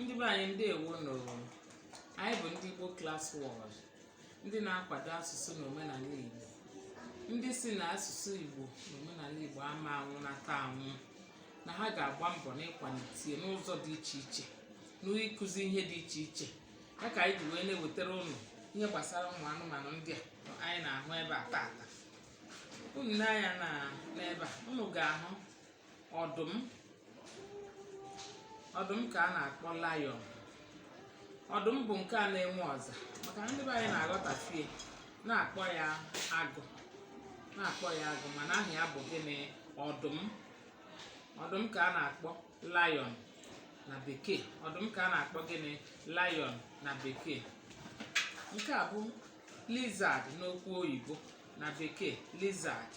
ndị be anyị ndewo nụ anyị bụ ndị Igbo Class World ndị na-akwado asụsụ na omenala Igbo ndị si na asụsụ Igbo na omenala Igbo ama anwụnata anwụ na ha ga-agba mbọ n'ịkwalite n'ụzọ dị iche iche n'ịkụzi ihe dị iche iche ya ka anyị ji wee na-ewetara unu ihe gbasara ụmụ anụmanụ ndị a anyị na-ahụ ebe a taata unu nee anya na n'ebe a unu ga-ahụ ọdụm ọdụm ka a na-akpọ lion ọdụm bụ nke a na-enwe ọza maka na ndị be anyị na-aghọtafie na-akpọ ya agụ na-akpọ ya agụ mana aha ya bụ gịnị ọdụm ọdụm ka a na-akpọ lion na bekee ọdụm ka a na-akpọ gịnị lion na bekee nke a bụ lizard n'okwu oyibo na bekee lizard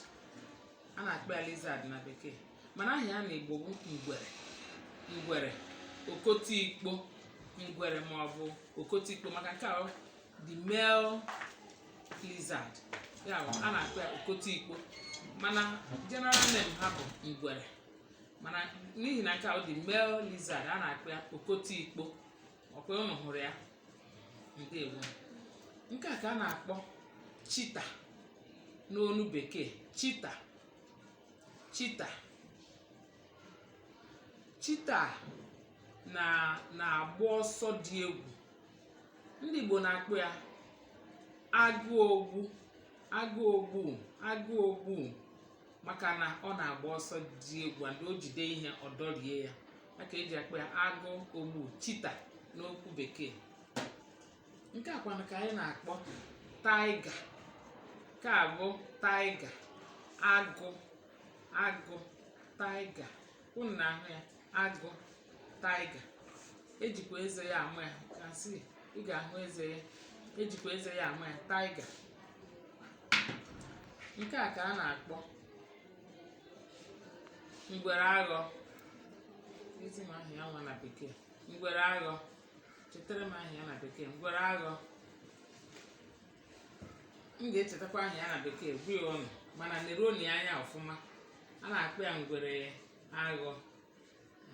a na-akpọ ya lizard na bekee mana aha ya na Igbo bụ ngwere ngwere okotikpo ngwere ma ọ bụ okotikpo maka nke a the male lizard ya bụ a na-akpọ ya okotikpo mana general name ha bụ ngwere mana n'ihi na nke a the male lizard a na-akpọ ya okotikpo ọkwa unu hụrụ ya ndewo nke a ka a na-akpọ cheetah n'ọnụ bekee cheetah cheetah cheetah na-agba ọsọ dị egwu ndị Igbo na-akpọ ya agụ ogbu agụ ogbu agụ ogbu maka na ọ na-agba ọsọ dị egwu and o jide ihe ọ dọrie ya ya ka eji akpọ ya agụ ogbu cheetah n'okwu bekee nke a kwanụ ka anyị na-akpọ tiger nke a bụ tiger agụ agụ tiger unu na-ahụ ya agụ tiger ejikwa eze ya ama ya ka si ị ga-ahụ eze ya ejikwa eze ya ama ya tiger nke a ka a na-akpọ ngwere aghọ zi m aha ya nwa na bekee ngwere aghọ chetara m aha ya na bekee ngwere aghọ m ga-echetakwa aha ya na bekee gwa unu mana neruoni ya anya ọfụma a na-akpọ ya ngwere aghọ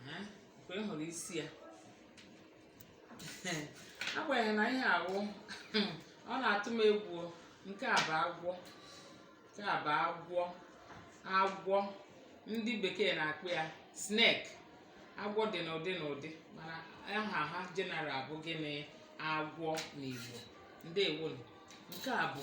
Ehe, mgbe m hụrụ isi ya agbanyeghị na ihe awụ ọ na-atụ m egwu o. nke a bụ agwọ nke a bụ agwọ agwọ ndị bekee na-akpọ ya snake agwọ dị n'ụdị n'ụdị mana aha ha general bụ gịnị agwọ n'Igbo ndewonu nke a bụ